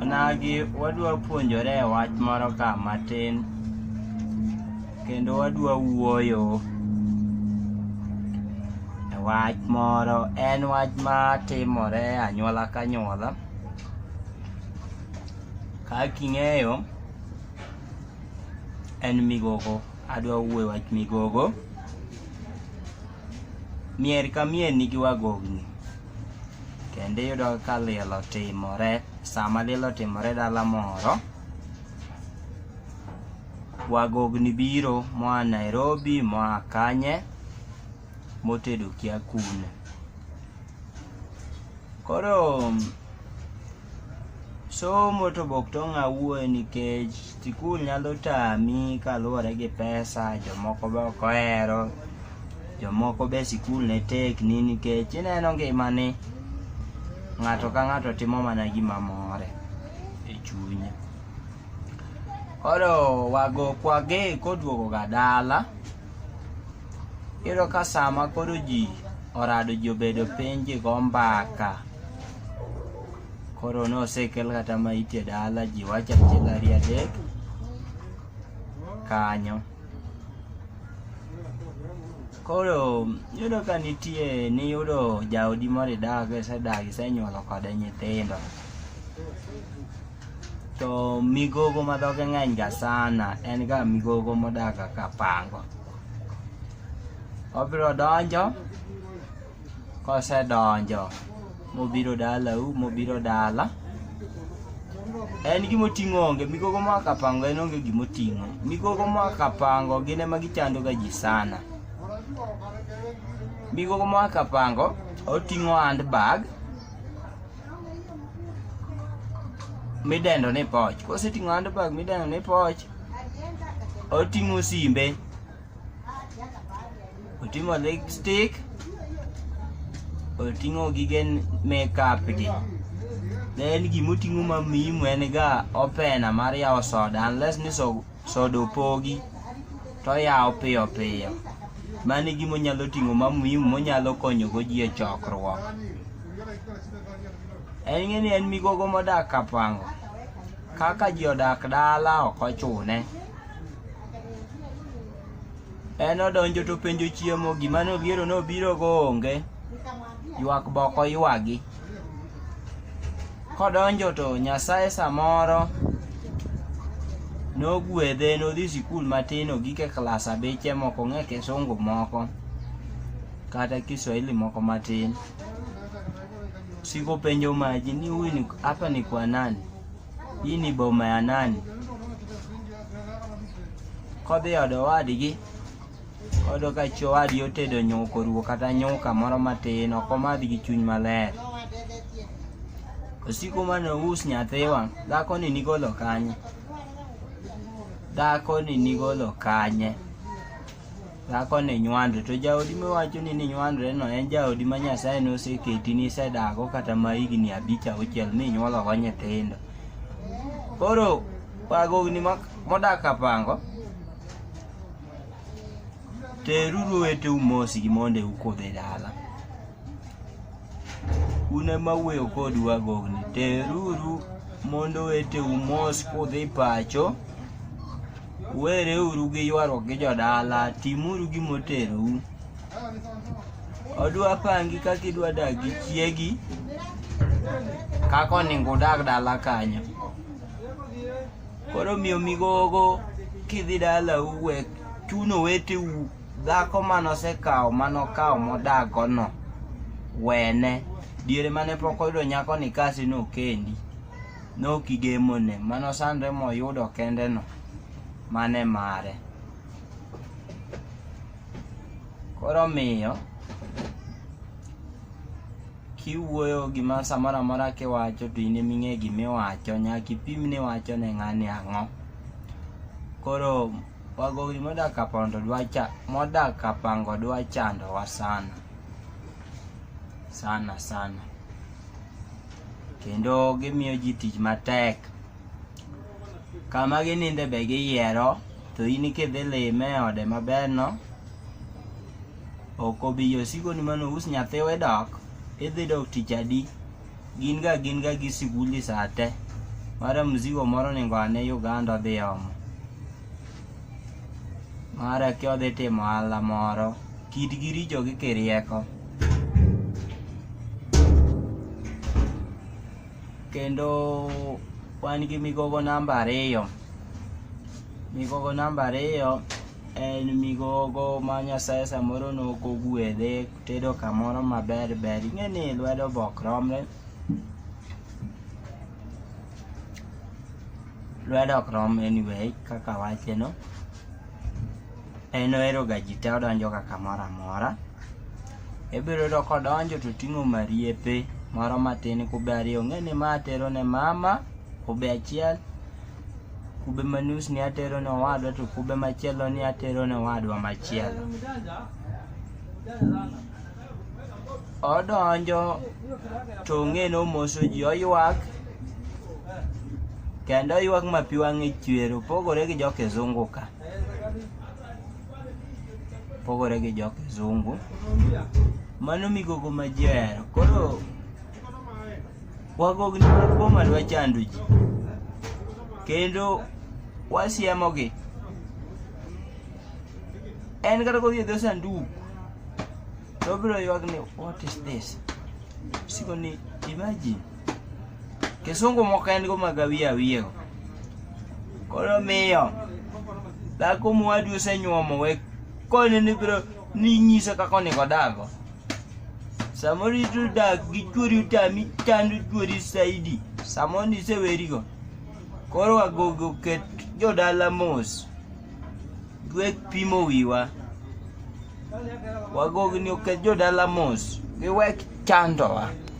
Onagi wadwa puonjore e wach moro ka matin kendo wadwa wuoyo e wach moro en wach ma timore e anyuola ka anyuola kaka ing'eyo en migogo adwa wuoyo e wach migogo Mier ka mier nigi wagogni kendo iyudo ka liel otimore sama liel otimore dala moro wagogni biro moa Nairobi moa Kanye motedo kia kune Koro somo to bok to ng'a wuoye nikech sikul nyalo tami kaluwore gi pesa jomoko be ok ohero jomoko be sikul ne tekni nikech ineno ngimani ng'ato ka ng'ato timo mana gima more e chunye koro wago kwage koduogoga dala Iyudo ka sama koro ji orado ji obedo piny ji go mbaka koro ne osekel kata ma ite dala ji wacho achiel ariyo adek kanyo koro yudo ka nitie niyudo jaodi moro idago isedago isenyuolo kode nyithindo to migogo ma dhoge ng'eny ga sana en ga migogo modak ka pango obiro donjo kosedonjo mobiro dalau mobiro dala en gima oting'o onge migogo ma kapango en onge gima oting'o migogo ma kapango gin ema gichando ga ji sana migogo ma kapango oting'o handbag midendo ni poch koseting'o handbag midendo ni poch oting'o simbe oting'o lipstick oting'o gige makeup gi then gimoting'o mamimu en ga opena mar yawo soda unless ni so soda opogi to oyawo piyo piyo mano e gima onyalo ting'o ma muhimu monyalo konyogo ji e chokruok en ng'e ni en migogo modak kapango kaka ji odak dala ok ochune en odonjo to penjo chiemo gima noliero nobirogo onge ywak boko ywagi Kodonjo to Nyasaye samoro nogwedhe nodhi sikul matin ogike klas abiche moko ng'e kisungu moko kata kiswahili moko matin sikopenjo maji ni huyu ni hapa ni kwa nani hii ni boma ya nani kodhi odowadgi Oyudo ka chi owadgi otedo nyuka oruwo kata nyuka moro matin ok omadh gi chuny maler. Osiko mane ous nyathiwa, dhakoni nigolo kanye? Dhakoni nigolo kanye? Dhakoni nywando, to jaodi miwachoni ni nywandoreno en jaodi ma Nyasaye noseketi nisedago kata ma higni abich auchiel minyuologo nyithindo. Koro wagogni modak Kapango Teruru oweteu mos gi mondo ukudh e dala. Un ema wuoyo kodu agogni. Teruru mondo oweteu mos kudhi pacho. Wereuru gi ywaruok gi jodala. Timuru gima oterou. Odwa pangi kaka idwa dak gi chiegi. Kaka onego udag dala kanyo. koro miyo migogo kidhi dala uwek chuno wete u dhako manosekawo manokawo modagono wene diere mane pok oyudo nyako ni kasi nokendi nokigemone manosandre moyudo kendeno mane mare koro miyo kiwuoyo gima samoro amora kiwacho to in eming'e gimiwacho nyaka ipim ni wacho ne ng'ani ang'o koro wagogri modak apondo dwacha modak apango dwachandowa sana sana sana kendo gimiyo ji tich matek kama gininde be giyiero to in kidhi lime e ode maberno ok obi josikoni mane ous nyathiwa e dok idhi dok tich adi gin ga gin ga gi sikundi sa te mara mzigo moro ningo ane uganda odhi omo mara ki odhi timo ohala moro kitgi richo gi kirieko kendo wan gi migogo namba ariyo migogo namba ariyo en migogo ma nyasaye samoro nokogwedhe tedo kamoro maber ber ing'e ni lwedo bok romre lwedo ok rom anyway kaka wacheno en oheroga ji te odonjoga kamoro amora ibiro yudo kodonjo to ting'o mariepe moro matin kube ariyo ong'e ni ma atero ne mama kube achiel kube manus ni atero ne owadwa to kube machielo ni atero ne owadwa machielo odonjo to ong'e ni omoso ji oywak kendo oywak ma pi wang'e chwer opogore gi jokizungu ka opogore gi jokizungu mano migogo ma ji ohero koro Wagogni mag boma dwa chando ji, kendo wasiemogi. En kata kodhi e dho sanduk, to obiro ywak ni what is this? Siko ni imagine. Kisungu moko en go mag awiye awiyego. Koro miyo, dhako mowadu osenyuomo we koni ni biro ni nyisa kaka onego odago. Samoro ito dak gi chuori utami chando chuori saidi. Samoro nisewerigo. Koro wagogo ket jodala mos. Dwek pimo wiwa. Wagogo ni oket jodala mos. Giwek chandowa.